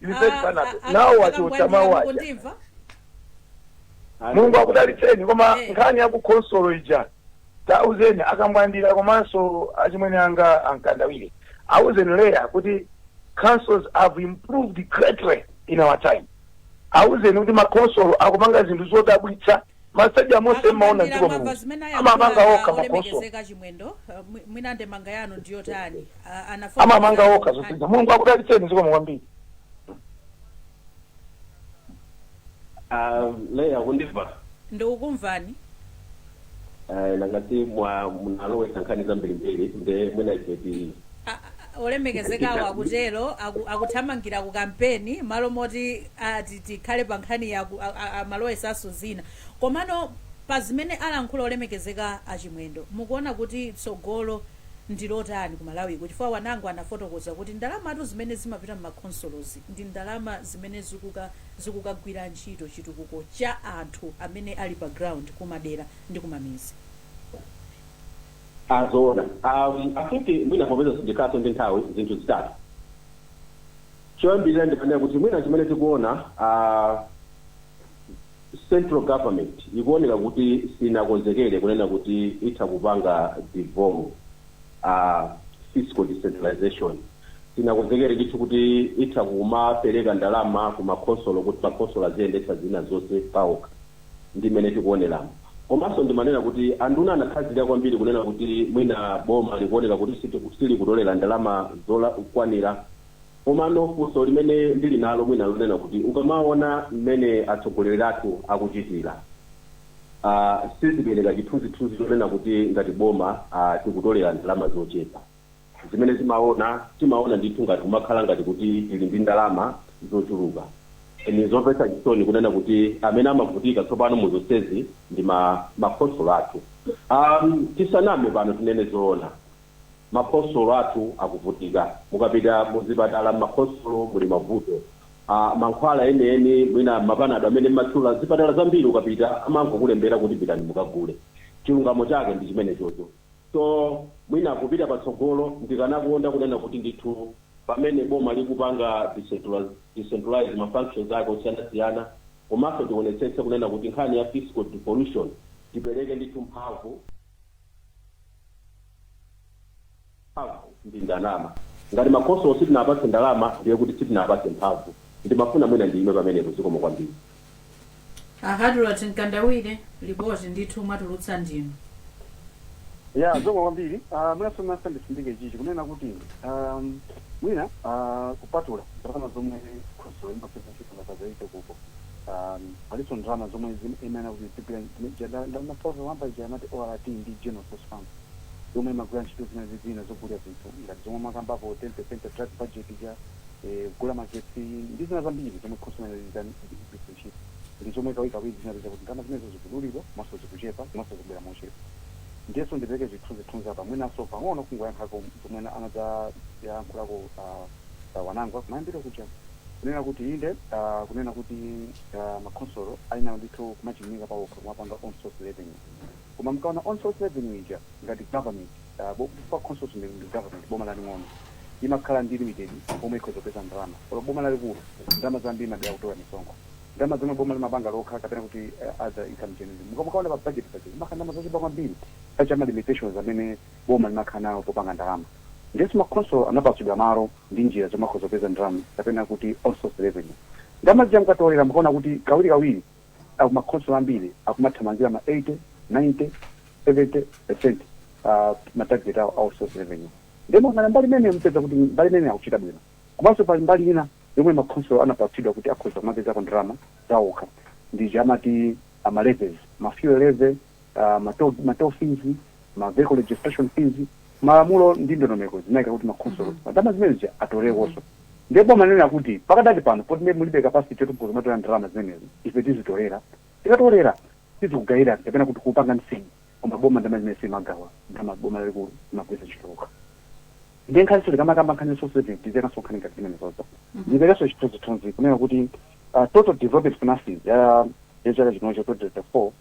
Yusuf Banabe. Nawo achotsa mawu aja. kundimva mulungu akudalitseni koma Eh. nkhani ya kukhonsolo ija tauzeni a Kambwandira komanso achimwene anga a Mkandawire auzeni leya kuti councils have improved greatly in our time auzeni kuti makhonsolo akupanga zinthu zodabwitsa Ma stadium onse mmaona A Kambwandira dziko mwamva muno zimene amamanga ayakhula okha makhonsolo olemekezeka chimwendo uh, mwi- mwina ndemanga yanu ndiyotani uh, anafotokoza amamanga okha nkhani- zosintha mulungu akudalitseni zikomo kwambiri Ah, leya kundimva ndikukumvani Ah, ndangoti mwa munalowesa nkhani zambirimbiri nde mwina ife ti- A- a- olemekezekawo akutero aku- akuthamangira ku kampeni malo moti ah, ti- tikhale pa nkhani ya ku- a- a- amalowesanso zina komano pa zimene alankhula olemekezeka achimwendo mukuona kuti tsogolo ndi lotani ku malawi kuno chifukwa Wanangwa anafotokoza kuti ndalamatu zimene zimapita mmakhonsolozi ndi ndalama zimene zikuka zikukagwira ntchito chitukuko cha anthu amene ali pa ground kumadera ndi kumamizi Ah, zoona. I think mwina popeza sindikhalanso ndi nthawi, zinthu zitatu. Choyambirira ndimanena kuti mwina chimene tikuona a Central Government ikuoneka kuti sinakonzekere kunena kuti itha kupanga devolve a fiscal decentralization. Sinakonzekere ndithu kuti itha kumapereka ndalama ku makhonsolo kuti makhonsolo aziyendetsa zina zonse paokha. ndi mmene tikuoneramu. Komanso ndimanena kuti anduna anakhazikika kwambiri kunena kuti mwina boma likuoneka kuti silikutolera ndalama zokwanira komano funso limene ndili nalo mwina lonena kuti ukamaona mmene atsogoleri athu akuchitira sizipereka chithunzithunzi chonena kuti ngati boma tikutolera ndalama zochepa. Zimene timaona, Timaona ndithu ngati kumakhala ngati kuti ili ndi ndalama zochuluka. N'zomvetsa chisoni kunena kuti amene amavutika tsopano mu zonsezi ndi ma ma khonsolo athu. Am, tisaname pano tinene zoona, ma khonsolo athu akuvutika. Mukapita mu zipatala m'ma khonsolo muli mavuto. A, mankhwala enieni mwina ma panado amene mumatchula, zipatala zambiri ukapita amangokulembera kuti pitani mukagule. Chilungamo chake ndi chimenechocho. So mwina kupita patsogolo ndikanakonda kunena kuti ndithu pamene boma likupanga decentralize ma functions ake osiyanasiyana komanso tionetsetse kunena kuti nkhani ya fiscal devolution tipereke ndithu mphamvu, mphamvu ndi ndalama. Ngati makhonsolo sitinawapatse ndalama ndiye kuti sitinawapatse mphamvu. Ndimafuna mwina ndiime pamenepo zikomo kwambiri. A Hadrot Mkandawire, lipoti ndithu mwatulutsa ndinu. Eya zikomo kwambiri ah, mwinanso masa ndisindike chichi kunena kuti ah, mwina ah, kupatula ndalama zomwe khonsolo imapeza ntchito makazaike kuko ah, palinso ndalama zomwe zim- imene kuti zigwira ntchito- nda- nda- mafoto wamba ija amati ORT ndi General Resource Fund yomwe imagwira ntchito zina ndi zina zogulira zinthu ngati zomwe makambapo 10% ya drug budget ija kugula magetsi ndi zina zambiri zomwe khonsolo inali itani kuti igwiritse ntchito ndi zomwe kawirikawiri tinapeza kuti ndalama zimenezo zikudulidwa komanso zikuchepa komanso zikubwera mochedwa. Ndiyenso ndipereke zithunzithunzi apa mwinanso pang'ono kungoyankhako zomwe ana- anadzayankhulako a Wanangwa kumayambiriro kuja kunena kuti inde a kunena kuti a makhonsolo ayenera ndithu kumachilimika pawokha kumapanga own source revenue koma mukaona own source revenue ija ngati government Boma khonsolo ndi government boma laling'ono imakhala ndi limited pomwe ikhoza kupeza ndalama olo boma lalikulu ndalama zambiri limadalira kutola misonkho ndalama zomwe boma limapanga lokha kapena kuti other income generation muka mukaona pa budget paja zimakhala ndalama zochepa kwambiri chifukwa cha ma limitations amene boma limakhala nawo popanga ndalama ndiyenso makhonsolo anapatsidwa malo ndi njira zomwe akhoza kupeza ndalama kapena kuti own source revenue ndalama zija mukatolera mukaona kuti kawirikawiri a ku ma khonsolo ambiri akumathamangira ma 80, 90, 70% pa ma target awo a own source revenue. Ndiye mukayang'ana mbali imeneyo mupeza kuti mbali imeneyo akuchita bwino. Komanso pali mbali ina yomwe ma khonsolo anapatsidwa kuti akhoza kumapezako ndalama zaokha, ndi zija amati a ma levies, ma fuel levy, ma toll, ma toll fees, ma vehicle registration fees. Malamulo ndi ndondomeko zinaika kuti makhonsolo Mhm. pa ndalama zimenezi atolekonso. Ndiye boma linanena kuti pakadali pano poti ndiye mulibe capacity yoti mukhoza kumatolera ndalama zimenezi, ife tizitolera. Tikatolera tizikugayirani kapena kuti kupanga sink. Koma boma ndalama zimene silimagawa, ndalama boma lalikulu limagwiritsa ntchito lokha. Ndiye nkhaniso tikamakamba nkhani resource sharing tizionanso nkhani ngati zimenezozo. Mhm. Ndiperekenso chithunzithunzi kunena kuti uh, total development finances ya ya chaka chinocho 2024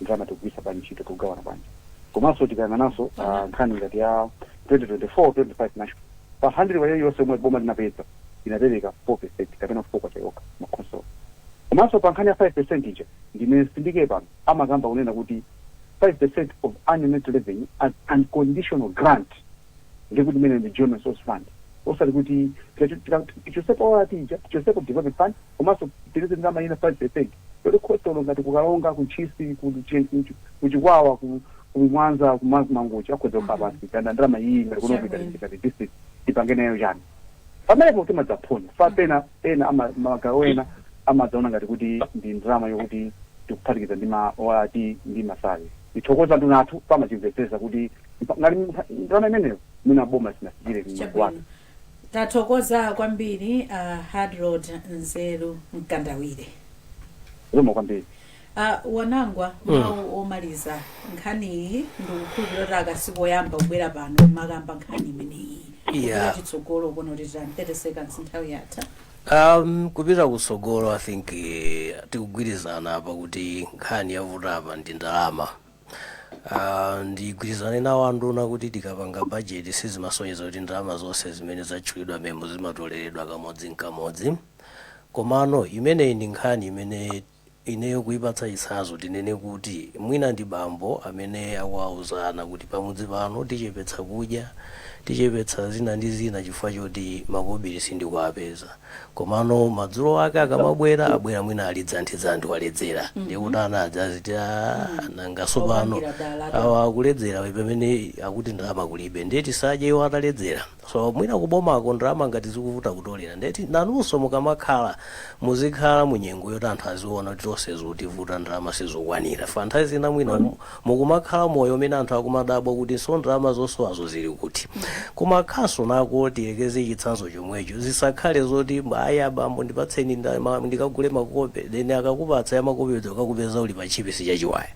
ndalama tikugwiritsa bwanji ntchito tikugawana bwanji komanso tikayang'ananso ah, nkhani ngati ya 2024 25 national pa 100 iliyonse yomwe boma linapeza linapereka 4 percent kapena 4 kwacha yokha makhonsolo komanso pa nkhani ya 5 percent ija ndimati nditsindike pano amakamba kunena kuti 5 percent of annual net revenue as unconditional grant ndiye kuti imene ndi general resource fund osati kuti tikacho- tika- tichotsepo ORT ija tichotsepo development fund komanso tireze ndalama ina 5 percent yoti khonsolo ngati ku karonga ku ntchisi ku Chi- ku Chi- ku chikwawa ku ku mwanza ku Ma- ku mangochi akhoza kukhala pansi kunena ndalama iyi ngati kuno Chabwino. ku Chitipa ngati district tipange nayo chani pamenepo timadzaphonyana pena ena ama- magawo ena amadzaona ngati kuti ndi ndalama yokuti tikuphatikiza ndi ma ORT ndi ma salary Tithokoze anduna athu pomachimvetsetsa kuti mpa- ngati mpa- ndalama imeneyo mwina boma sinafikire munthu wake chabwino tathokoza kwambiri a harold nzeru mkandawire zoma kwambiri Uh, wanangwa mawu omaliza nkhaniyi ndikukhulupirira kuti aka sikoyamba kubwera pano kumakamba nkhani imeneyi Yeah. chitsogolo kuno titani 30 seconds nthawi yatha Ahm kupita kutsogolo I think tikugwirizana apa kuti nkhani yavuta apa ndi ndalama. Aaa ndigwirizane nawo anduna kuti tikapanga bajeti sizimasonyeza kuti ndalama zonse zimene zatchulidwa mmenemo zimatoleredwa kamodzin'kamodzi. Komano imeneyi ndi nkhani imene Ineyo kuipatsa chitsanzo tinene kuti mwina ndi bambo amene akuwauza ana kuti pamudzi pano tichepetsa kudya, tichepetsa zina ndi zina chifukwa choti makobiri sindikuwapeza. Komano madzulo ake akamabwera, abwera mwina ali dzandi-dzandi waledzera. Ndiye kuti ana aja aziti, Aaa nanga tsopano awa akuledzera pamene akuti ndalama kulibe. Ndiye tisadye iwo ataledzera? So mwina ku bomako ndalama ngati zikuvuta kutolera ndiye ti nanunso mukamakhala muzikhala mu nyengo yoti anthu aziona kuti tonse zikutivuta ndalama sizokwanira chifukwa nthawi zina mwina mukumakhala moyo umene anthu akumadabwa kuti so ndalama zosowazo zili kuti ku makhansonso nako tiyekeze chitsanzo chomwecho zisakhale zoti ayi abambo ndipatseni ndikagule makope then akakupatsa ya makope uja ukakupeza uli pa tchipisi chachiwaya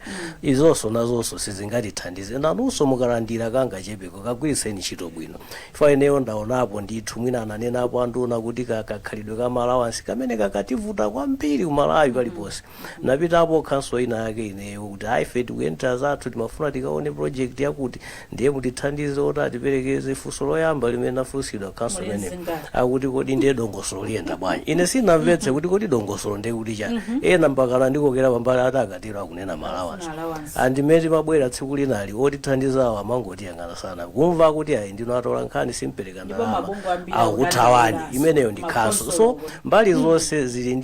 izonso nazonso sizingatithandize nanunso mukalandira kangachepeko kagwiritseni ntchito bwino chifukwa ineyo ndaonapo ndithu mwina ananenapo anduna kuti kakhalidwe ka ma alawansi kamene kakutivuta kwambiri ku Malawi paliponse napitapo ku khanso ina yake ineyo kuti ayi ife tikuyendera zathu timafuna tikaone project yakuti Ndiye mutithandize oti atiperekeze funso loyamba limene nafunsidwa khanso imene akuti kodi ndiye dongosolo liyenda bwanji ine sinamvetse kuti kodi dongosolo ndiye kuti chani ena mpaka anandikokera pambali ati akatero akunena ma alawansi and mmene timabwera tsiku linalo otithandizawo amangotiyang'ana sanakumva kuti ayi ndinu atola nkhani simpereka ndalama akuthawani imeneyo ndi khanso so mbali zonse zili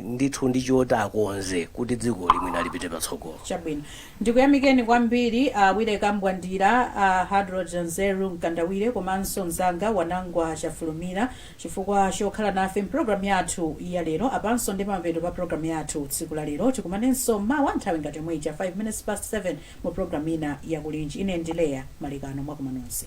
ndithu ndi choti akonze kuti dziko limenelo lipite patsogolo chabwino Ndikuyamikeni kwambiri a Willy Kambwandira, a Hadrod Zeru Mkandawire komanso mzanga Wanangwa Chafulumira chifukwa chokhala nafe m'programu yathu ya lero. Apanso nde pamapeto pa programu yathu tsiku la lero. Tikumanenso mawa nthawi ngati yomwe ija, 5 minutes past 7, mu programu ina ya Kulinji. Ine ndi Leah Malekano. Mwakuma nonse.